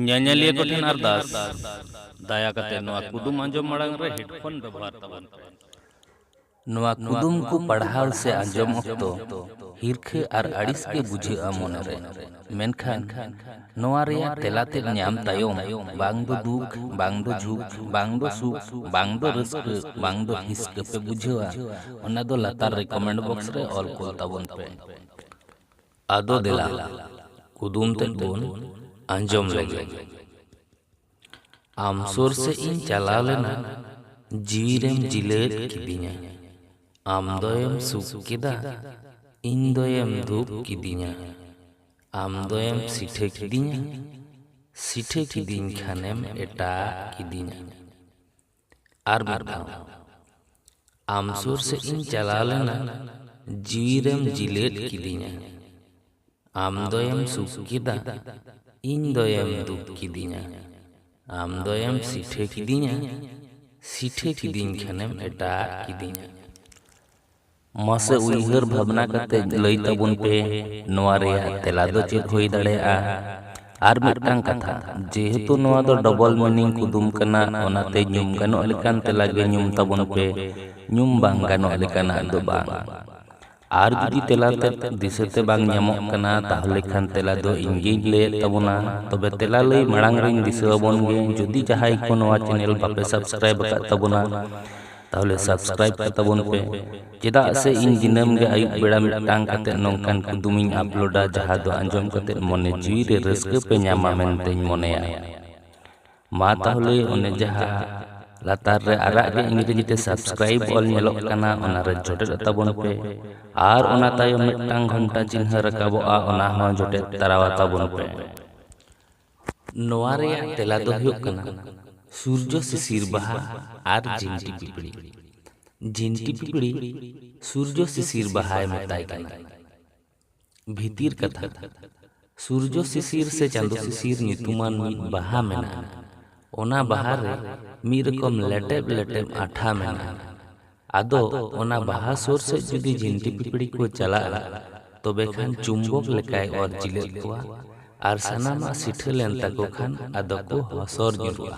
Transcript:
ᱧᱮᱧᱮᱞᱤᱭᱟᱹ ᱠᱚ ᱴᱷᱮᱱ ᱟᱨᱫᱟᱥ ᱫᱟᱭᱟ ᱠᱟᱛᱮ ᱱᱚᱣᱟ ᱠᱩᱫᱩᱢ ᱟᱸᱡᱚᱢ ᱢᱟᱲᱟᱝ ᱨᱮ ᱦᱮᱰᱯᱷᱳᱱ ᱵᱮᱵᱚᱦᱟᱨ ᱛᱟᱵᱚᱱ ᱯᱮ ᱱᱚᱣᱟ ᱠᱩᱫᱩᱢ ᱠᱚ ᱯᱟᱲᱦᱟᱣ ᱥᱮ ᱟᱸᱡᱚᱢ ᱚᱠᱛᱚ ᱦᱤᱨᱠᱷᱟᱹ ᱟᱨ ᱟᱹᱲᱤᱥ ᱜᱮ ᱵᱩᱡᱷᱟᱹᱜᱼᱟ ᱢᱚᱱᱮᱨᱮ ᱢᱮᱱᱠᱷᱟᱱ ᱱᱚᱣᱟ ᱨᱮᱭᱟᱜ ᱛᱮᱞᱟ ᱛᱮᱫ ᱧᱟᱢ ᱛᱟᱭᱚᱢ ᱵᱟᱝ ᱫᱚ ᱫᱩᱠ ᱵᱟᱝ ᱫᱚ ᱡᱷᱩᱠ ᱵᱟᱝ ᱫᱚ ᱥᱩᱠ ᱵᱟᱝ ᱫᱚ ᱨᱟᱹᱥᱠᱟᱹ ᱵᱟᱝ ᱫᱚ ᱦᱤᱥᱠᱟᱹ ᱯᱮ ᱵᱩᱡᱷᱟᱹᱣᱟ ᱚᱱᱟ ᱫᱚ ᱞᱟᱛᱟᱨ ᱨᱮ ᱠᱚᱢᱮᱱᱴ ᱵᱚᱠᱥ ᱨᱮ ᱚᱞ ᱠᱚᱞ ᱛᱟᱵᱚᱱ ᱯᱮ ᱟᱫᱚ ᱫᱮᱞᱟ ᱠᱩᱫᱩᱢ ᱛᱮᱫ ᱵᱚᱱ ᱟᱸᱡᱚᱢ ᱞᱮᱜᱮ ᱟᱢ ᱥᱩᱨ ᱥᱮᱫ ᱤᱧ ᱪᱟᱞᱟᱣ ᱞᱮᱱᱟ ᱡᱤᱣᱤ ᱨᱮᱢ ᱡᱤᱞᱟᱹᱫ ᱠᱤᱫᱤᱧᱟ ᱟᱢ ᱫᱚᱭᱮᱢ ᱥᱩᱠ ᱠᱮᱫᱟ ᱤᱧ ᱫᱚᱭᱮᱢ ᱫᱷᱩᱯ ᱠᱤᱫᱤᱧᱟ ᱟᱢ ᱫᱚᱭᱮᱢ ᱥᱤᱴᱷᱟᱹ ᱠᱤᱫᱤᱧᱟ ᱥᱤᱴᱷᱟᱹ ᱠᱤᱫᱤᱧ ᱠᱷᱟᱱᱮᱢ ᱮᱴᱟᱜ ᱠᱤᱫᱤᱧᱟ ᱟᱨ ᱢᱤᱫ ᱫᱷᱟᱣ ᱟᱢ ᱥᱩᱨ ᱥᱮᱫ ᱤᱧ ᱪᱟᱞᱟᱣ ᱞᱮᱱᱟ ᱡᱤᱣᱤᱨᱮᱢ ᱡᱤᱞᱟᱹᱫ ᱠᱤᱫᱤᱧᱟ ᱟᱢ ᱫᱚᱭᱮᱢ ᱥᱩᱠ ᱠᱮᱫᱟ ᱤᱧ ᱫᱚᱭᱮᱢ ᱫᱩᱠ ᱠᱤᱫᱤᱧᱟ ᱟᱢ ᱫᱚᱭᱮᱢ ᱥᱤᱴᱷᱟᱹ ᱠᱤᱫᱤᱧᱟ ᱥᱤᱴᱷᱟᱹ ᱠᱤᱫᱤᱧ ᱠᱷᱟᱱᱮᱢ ᱮᱴᱟᱜ ᱠᱤᱫᱤᱧᱟ ᱢᱟᱥᱮ ᱩᱭᱦᱟᱹᱨ ᱵᱷᱟᱵᱽᱱᱟ ᱠᱟᱛᱮ ᱞᱟᱹᱭ ᱛᱟᱵᱚᱱ ᱯᱮ ᱱᱚᱣᱟ ᱨᱮᱭᱟᱜ ᱛᱮᱞᱟ ᱫᱚ ᱪᱮᱫ ᱦᱩᱭ ᱫᱟᱲᱮᱭᱟᱜᱼᱟ ᱟᱨ ᱢᱤᱫᱴᱟᱝ ᱠᱟᱛᱷᱟ ᱡᱮᱦᱮᱛᱩ ᱱᱚᱣᱟ ᱫᱚ ᱰᱚᱵᱚᱞ ᱢᱤᱱᱤᱝ ᱠᱩᱫᱩᱢ ᱠᱟᱱᱟ ᱚᱱᱟᱛᱮ ᱧᱩᱢ ᱜᱟᱱᱚᱜ ᱞᱮᱠᱟᱱ ᱛᱮᱞᱟ ᱜᱮ ᱧᱩᱢ ᱛᱟᱵᱚᱱ ᱯᱮ ᱧᱩᱢ ᱵᱟᱝ ᱜᱟᱱᱚᱜ ᱞᱮᱠᱟᱱᱟᱜ ᱫᱚ ᱵᱟᱝ ᱟᱨ ᱡᱩᱫᱤ ᱛᱮᱞᱟ ᱛᱮ ᱫᱤᱥᱟᱹᱛᱮ ᱵᱟᱝ ᱧᱟᱢᱚᱜ ᱠᱟᱱᱟ ᱛᱟᱦᱚᱞᱮ ᱠᱷᱟᱱ ᱛᱮᱞᱟ ᱫᱚ ᱤᱧ ᱜᱤᱧ ᱞᱟᱹᱭᱮᱫ ᱛᱟᱵᱚᱱᱟ ᱛᱚᱵᱮ ᱛᱮᱞᱟ ᱞᱟᱹᱭ ᱢᱟᱲᱟᱝ ᱨᱤᱧ ᱫᱤᱥᱟᱹ ᱟᱵᱚᱱ ᱜᱮ ᱡᱩᱫᱤ ᱡᱟᱦᱟᱸᱭ ᱠᱚ ᱱᱚᱣᱟ ᱪᱮᱱᱮᱞ ᱵᱟᱯᱮ ᱥᱟᱵᱥᱠᱨᱟᱭᱤᱵ ᱟᱠᱟᱫ ᱛᱟᱵᱚᱱᱟ ᱛᱟᱦᱚᱞᱮ ᱥᱟᱵᱥᱠᱨᱟᱭᱤᱵ ᱠᱟ ᱛᱟᱵᱚᱱ ᱯᱮ ᱪᱮᱫᱟᱜ ᱥᱮ ᱤᱧ ᱫᱤᱱᱟᱹᱢ ᱜᱮ ᱟᱹᱭᱩᱵ ᱵᱮᱲᱟ ᱢᱤᱫᱴᱟᱝ ᱠᱟᱛᱮ ᱱᱚᱝᱠᱟᱱ ᱠᱩᱫᱩᱢ ᱤᱧ ᱟᱯᱞᱳᱰᱟ ᱡᱟᱦᱟᱸ ᱫᱚ ᱟᱸᱡᱚᱢ ᱠᱟᱛᱮ ᱢᱚᱱᱮ ᱡᱤᱣᱤ ᱨᱮ ᱨᱟᱹᱥᱠᱟᱹ ᱯᱮ ᱧᱟᱢᱟ ᱢᱮᱱᱛᱮᱧ ᱢᱚᱱᱮᱭᱟ ᱢᱟ ᱛᱟᱦᱚᱞᱮ ᱚᱱᱮ ᱡᱟᱦᱟᱸ ᱞᱟᱛᱟᱨ ᱨᱮ ᱟᱨᱟᱜ ᱜᱮ ᱤᱝᱨᱮᱡᱤ ᱛᱮ ᱥᱟᱵᱥᱠᱨᱟᱭᱤᱵ ᱚᱞ ᱧᱮᱞᱚᱜ ᱠᱟᱱᱟ ᱚᱱᱟ ᱨᱮ ᱡᱚᱴᱮᱫ ᱛᱟᱵᱚᱱ ᱯᱮ ᱟᱨ ᱚᱱᱟ ᱛᱟᱭᱚᱢ ᱢᱤᱫᱴᱟᱝ ᱜᱷᱚᱱᱴᱟ ᱪᱤᱱᱦᱟᱹ ᱨᱟᱠᱟᱵᱚᱜᱼᱟ ᱚᱱᱟ ᱦᱚᱸ ᱡᱚᱴᱮᱫ ᱛᱟᱨᱟᱣᱟ ᱛᱟᱵᱚᱱ ᱯᱮ ᱱᱚᱣᱟ ᱨᱮᱭᱟᱜ ᱛᱮᱞᱟ ᱫᱚ ᱦᱩᱭᱩᱜ ᱠᱟᱱᱟ ᱥᱩᱨᱡᱚ ᱥᱤᱥᱤᱨ ᱵᱟᱦᱟ ᱟᱨ ᱡᱤᱱᱴᱤ ᱯᱤᱯᱲᱤ᱾ ᱡᱤᱱᱴᱤ ᱯᱤᱯᱲᱤ ᱥᱩᱨᱡᱚ ᱥᱤᱥᱤᱨ ᱵᱟᱦᱟᱭ ᱢᱮᱛᱟᱭ ᱠᱟᱱᱟ᱾ ᱵᱷᱤᱛᱤᱨ ᱠᱟᱛᱷᱟ, ᱥᱩᱨᱡᱚ ᱥᱤᱥᱤᱨ ᱥᱮ ᱪᱟᱸᱫᱚ ᱥᱤᱥᱤᱨ ᱧᱩᱛᱩᱢᱟᱱ ᱢᱤᱫ ᱵᱟᱦᱟ ᱢᱮᱱᱟᱜᱼᱟ᱾ ᱚᱱᱟ ᱵᱟᱦᱟ ᱨᱮ ᱢᱤᱫ ᱨᱚᱠᱚᱢ ᱞᱮᱴᱮᱵ ᱞᱮᱴᱮᱵ ᱟᱴᱷᱟ ᱢᱮᱱᱟᱜᱼᱟ᱾ ᱟᱫᱚ ᱚᱱᱟ ᱵᱟᱦᱟ ᱥᱳᱨ ᱥᱮᱫ ᱡᱩᱫᱤ ᱡᱤᱱᱴᱤ ᱯᱤᱯᱲᱤ ᱠᱚ ᱪᱟᱞᱟᱜᱼᱟ ᱛᱚᱵᱮ ᱠᱷᱟᱱ ᱪᱩᱢᱵᱚᱠ ᱞᱮᱠᱟᱭ ᱚᱨ ᱡᱤᱞᱟᱹᱫ ᱠᱚᱣᱟ ᱟᱨ ᱥᱟᱱᱟᱢᱟᱜ ᱥᱤᱴᱷᱟᱹ ᱞᱮᱱ ᱛᱟᱠᱚ ᱠᱷᱟᱱ ᱟᱫᱚ ᱠᱚ ᱦᱚᱥᱚᱨ ᱧᱩᱨᱩᱜᱼᱟ᱾